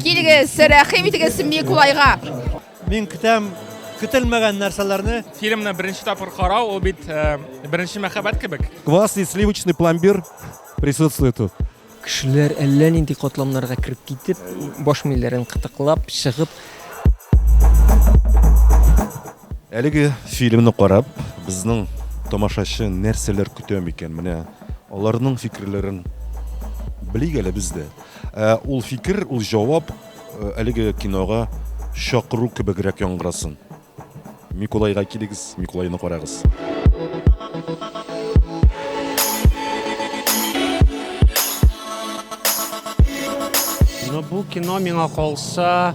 Килегез, рәхим итегез Микулайга. Мин көтәм көтелмәгән нәрсәләрне. Фильмны беренче тапкыр карау, ул бит э, беренче мәхәббәт кебек. Квас и сливочный пломбир присутствует тут. Кешеләр әллә нинди катламнарга кереп китеп, баш милләрен кытыклап, чыгып. Әлеге фильмны карап, безнең тамашачы нәрсәләр көтә микән? Менә аларның фикерләрен белик әле без дә. Ә ул фикер, ул җавап әлеге кинога чакыру кебегрәк яңгырасын. Микулайга килегез, Микулайны карагыз. Ну, бу кино миңа калса,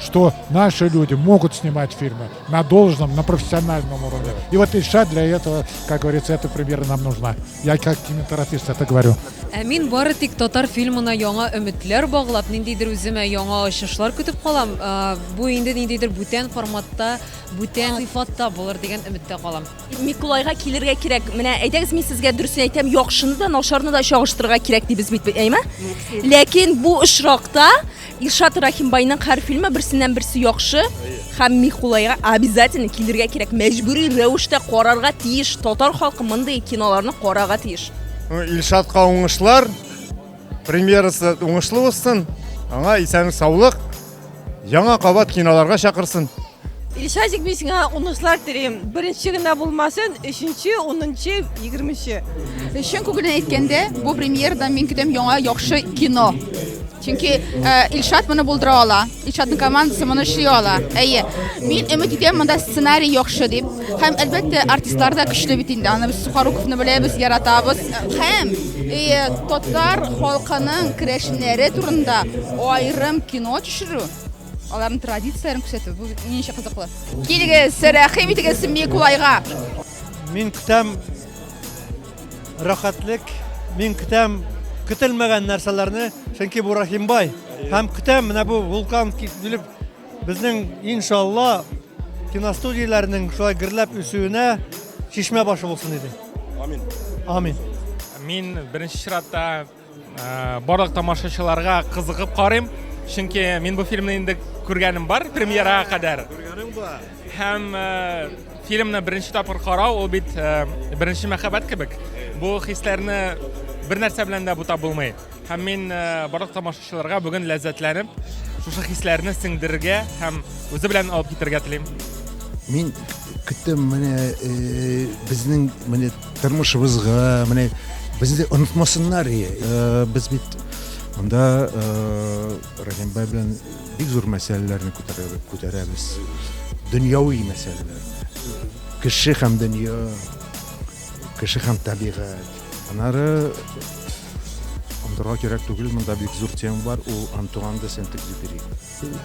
что наши люди могут снимать фильмы на должном, на профессиональном уровне. И вот Ильша для этого, как говорится, эта премьера нам нужна. Я как кинематографист это говорю. Ә мин бары тик татар фильмына яңа өметләр баглап, ниндидер үземә яңа ачышлар көтеп калам. Ә, бу инде ниндидер бүтән форматта, бүтән сыйфатта булыр дигән өметтә калам. Микулайга килергә кирәк. Менә әйдәгез мин сезгә дөресен әйтәм, яхшыны да, начарны да чагыштырырга кирәк дибез бит, әйме? Ләкин бу очракта Илшат Рахимбайның һәр фильмы берсеннән-берсе яхшы һәм Михулайга обязательно килергә кирәк. Мәҗбүри рәвештә карарга тиеш. Татар халкы мондый киноларны карарга тиеш. Ну, Илшатка уңышлар. Премьерасы уңышлы узсын. Аңа исәнлек, саулык. Яңа кабат киноларга чакырсын. Илшазик, мин сиңа уңышлар телим. Беренче генә булмасын, өченче, унынчы, егерменче. Чын күңелдән әйткәндә, бу премьерда мин көтәм яңа яхшы кино. Чөнки э, Илшат моны булдыра ала. Илшатның командасы моны эшли ала. Әйе. Мин өмет итәм монда сценарий яхшы дип. Һәм әлбәттә артистлар да көчле бит инде. Аны без Сухоруковны беләбез, яратабыз. Һәм э, татар халкының керәшеннәре турында аерым кино төшерү Аларның традицияләрен күрсәтү бу ничә кызыклы. Килегез, рәхим итегез Микулайга. Мин көтәм рәхәтлек, мин көтәм көтелмәгән нәрсәләрне, чөнки бу Рахимбай. Һәм көтәм менә бу вулкан килеп безнең иншалла киностудияләрнең шулай гөрләп үсүенә чишмә башы булсын иде. Амин. Амин. Мин беренче чиратта Ә, барлык тамашачыларга кызыгып карыйм, чөнки мин бу фильмны инде күргәнем бар премьерага кадәр. Күргәнем бар. Һәм ә, фильмны беренче тапкыр карау ул бит ә, беренче мәхәббәт кебек. Бу хисләрне бер нәрсә белән дә бутап булмый. Һәм мин ә, барлык тамашачыларга бүген ләззәтләнеп, шушы хисләрне сеңдерергә һәм үзе белән алып китергә телим. Мин көттем менә э, безнең менә Тормышыбызга, менә безне онытмасыннар, э, без бит Монда э, Рәхимбай белән бик зур мәсьәләләрне күтәрәбез. Дөньяви мәсьәләләр. Кеше һәм дөнья, кеше һәм табигать. Анары андырга кирәк түгел, монда бик зур тема бар, ул Антуан де Сент-Экзюпери.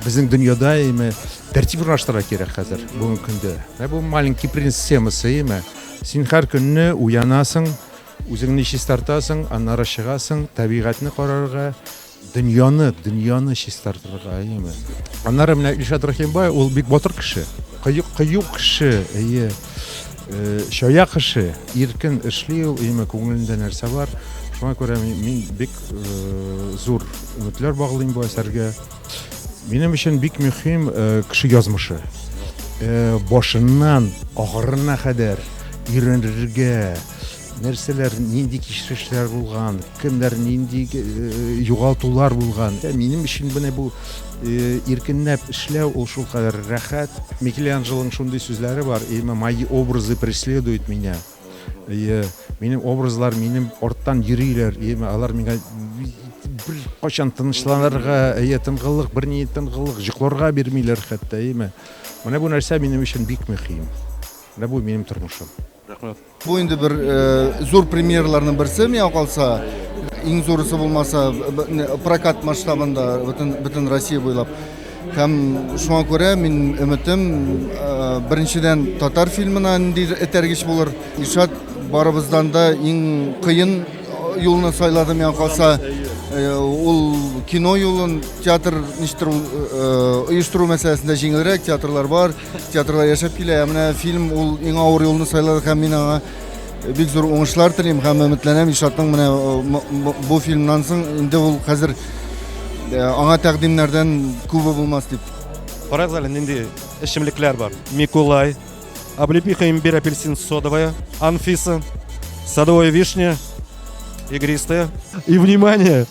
Безнең дөньяда име тәртип урнаштыра кирәк хәзер бүгенге көндә. Ә бу маленький принц темасы име? Син һәр көнне уянасың, үзеңне чистартасың, аннары чыгасың, табигатьне карарга, дөньяны, дөньяны чистартырга, әйеме? Аннары менә Илшат Рахимбай, ул бик батыр кеше. Кыю, кыю кеше, әйе. Э, чая кеше, иркен эшли ул, әйеме, күңелендә нәрсә бар. Шуңа күрә мин бик э, зур өметләр баглыйм бу әсәргә. Минем өчен бик мөһим э, кеше язмышы. Э, башыннан ахырына кадәр өйрәнергә, нәрсәләр, нинди кичерешләр булган, кемнәр нинди э, югалтулар булган. Ә минем өчен менә бу иркенләп эшләү ул шулкадәр рәхәт. Микеланджелоның шундый сүзләре бар, именно мои образы преследуют меня. Әйе, минем образлар минем арттан йөриләр, яме алар миңа бер качан тынычланырга, әйе, тынгыллык, бер ни тынгыллык җокларга бирмиләр хәтта, яме. Менә бу нәрсә минем өчен бик мөһим. Менә бу минем тормышым. Рәхмәт. Бу инде бер э, зур премьерларның берсе миңа калса. Иң зурысы булмаса прокат масштабында бөтен бөтен Россия буйлап. Һәм шуңа күрә мин өметем беренчедән татар фильмына нинди этәргеч булыр. Ишат барыбыздан да иң кыен юлны сайлады миңа калса. Ул кино юлын театр ништер оештыру мәсьәләсендә җиңелрәк, театрлар бар, театрлар яшәп килә. Ә менә фильм ул иң авыр юлны сайлады һәм мин аңа бик зур уңышлар телим һәм өметләнәм ильшатның менә э, бу фильмнан соң инде ул хәзер э, аңа тәкъдимнәрдән күбе булмас дип карагыз әле нинди эчемлекләр бар микулай облепиха имбирь апельсин содовая анфиса садовая вишня игристая и внимание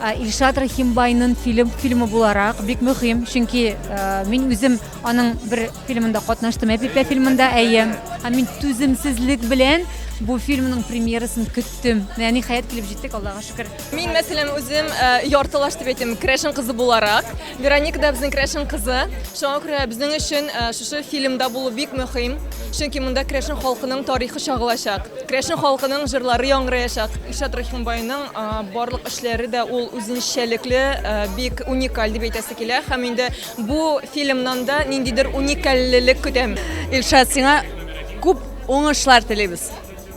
Ә, Илшат Рахимбайнын фильм фильмы буларак бик мөһим, чөнки ә, мин үзем аның бер фильмында катнаштым, Әпипә фильмында, әйе. Һәм мин түземсезлек белән бу фильмның премьерасын көттем. Менә ниһаять килеп җиттек, Аллага шөкер. Мин мәсәлән үзем э, яртылаш дип әйтәм, крәшен кызы буларак. Вероника да безнең крәшен кызы. Шуңа күрә безнең өчен э, шушы фильмда булу бик мөһим. Чөнки монда крәшен халкының тарихы чагылачак. Крәшен халкының җырлары яңгыраячак. Илшат Рахимбайның э, барлык эшләре дә ул үзенчәлекле, э, бик уникаль дип әйтәсе килә. Һәм инде бу фильмнан да ниндидер уникальлелек көтәм. Илшат, сиңа күп уңышлар телибез.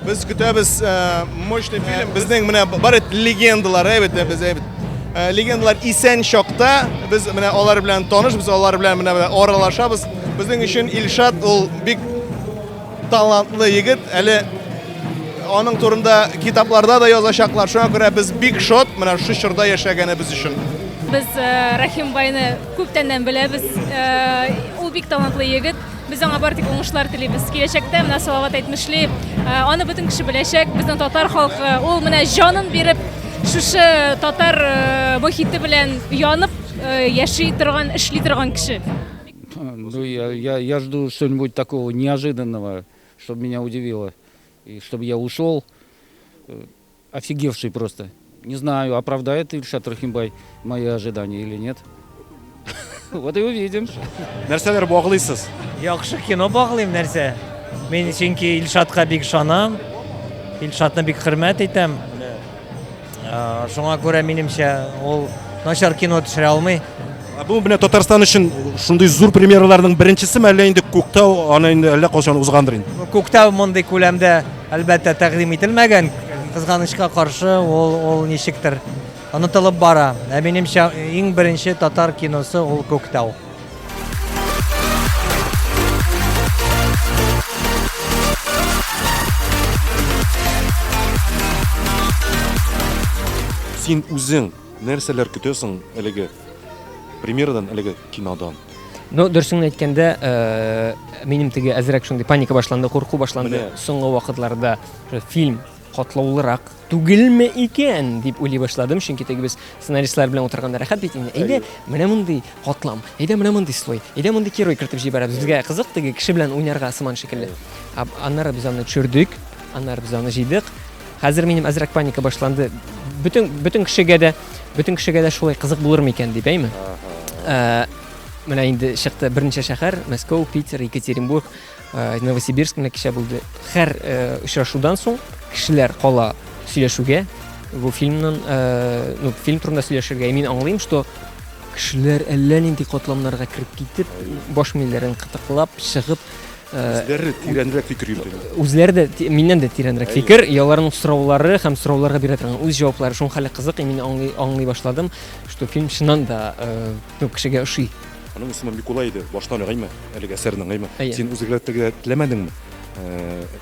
Без көтәбез мощный фильм. Безнең менә бар бит легендалар, әйбәт без әйбәт. Легендалар исән чакта без менә алар белән таныш, без алар белән менә аралашабыз. Безнең өчен Илшат ул бик талантлы егет. Әле аның турында китапларда да язачаклар. Шуңа күрә без бик шат менә шу чорда яшәгәнебез өчен. Без Рахимбайны күптәннән беләбез. Ул бик талантлы егет. Без аңа бар тик уңышлар телибез. Киләчәктә менә Салават әйтмешли, аны бөтен кеше беләчәк. Безнең татар халкы, ул менә җанын биреп, шушы татар мохите белән янып яши торган, эшли торган кеше. Ну, я, я, я жду что-нибудь такого неожиданного, чтобы меня удивило, и чтобы я ушел. Офигевший просто. Не знаю, оправдает Ильшат Рахимбай мои ожидания или нет. Вот и увидим. Нәрсәләр баглыйсыз? Яхшы кино баглыйм нәрсә. Мин чөнки Илшатка бик ышанам. Илшатны бик хөрмәт итәм. Шуңа күрә минемчә ул начар кино төшерә алмый. Ә бу менә Татарстан өчен шундый зур премьераларның беренчесе мәллә инде Күктау аны инде әллә кайчан узгандыр инде. Күктау мондый күләмдә әлбәттә тәкъдим ителмәгән. Кызганычка каршы, ул ул ничектер онытылып бара. Ә минемчә, иң беренче татар киносы ул Күктау. Син үзең Нәрсәләр көтә соң әлеге премьерадан, әлеге кинодан? Ну, дөресен әйткәндә, э, минем теге әзрәк шундый паника башланды, курку башланды. Менә. Соңгы вакытларда уже фильм катлаулырак түгелме икән дип уйлый башладым, чөнки теге без сценаристлар белән утырганда рәхәт бит инде. Әйдә, менә мондый катлам, әйдә менә мондый слой, әйдә мондый герой кертеп җибәрәбез. Безгә кызык теге кеше белән уйнарга сыман шикелле. А- Аннары без аны төшердек, аннары без аны җыйдык. Хәзер минем әзрәк паника башланды. Бөтен бөтен кешегә дә бөтен кешегә дә шулай кызык булыр микән дип әйме. Ә, менә инде чыкты берничә шәһәр, Мәскәү, Питер, Екатеринбург, ә, Новосибирск менә кичә булды. Һәр ә, очрашудан соң кешеләр кала сөйләшүгә. Бу фильмнан, ә, ну, фильм турында сөйләшергә. И мин аңлыйм, что кешеләр әллә нинди катламнарга кереп китеп, баш милләрен кытыклап, чыгып, Үзләре тирәнрәк фикер йөртәләр. Үзләре дә миннән дә тирәнрәк фикер, и аларның сораулары һәм сорауларга бирә торган үз җаваплары шуның хәле кызык, и мин аңлый, аңлый башладым, что фильм чыннан да күп кешегә ошый. Аның исеме Микулай иде. Башта аңлыймы? Әлеге әсәрне аңлыймы? Син үзгәртергә теләмәдеңме?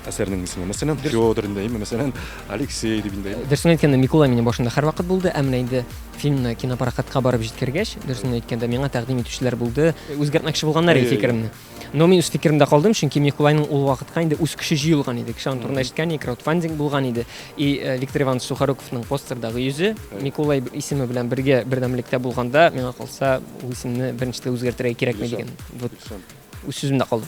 Әсәрнең исеме, мәсәлән, Федор инде, мәсәлән, Алексей дип инде. Дөресен әйткәндә, Микулай минем башымда һәрвакыт булды, ә менә инде фильмны кинопрокатка барып җиткергәч, дөресен әйткәндә, миңа тәкъдим итүчеләр булды. Үзгәртмәкче булганнар иде фикеремне. Но мин үз фикеремдә калдым, чөнки Микулайның ул вакытка инде үз көче җыелган иде. Кеше аны турында ишеткән иде, краудфандинг булган иде. И э, Виктор Иванович Сухоруковның постердагы йөзе Микулай исеме белән бергә бердәмлектә булганда, миңа калса, ул исемне беренчедә үзгәртергә кирәкми дигән. Вот үз сүземдә калдым.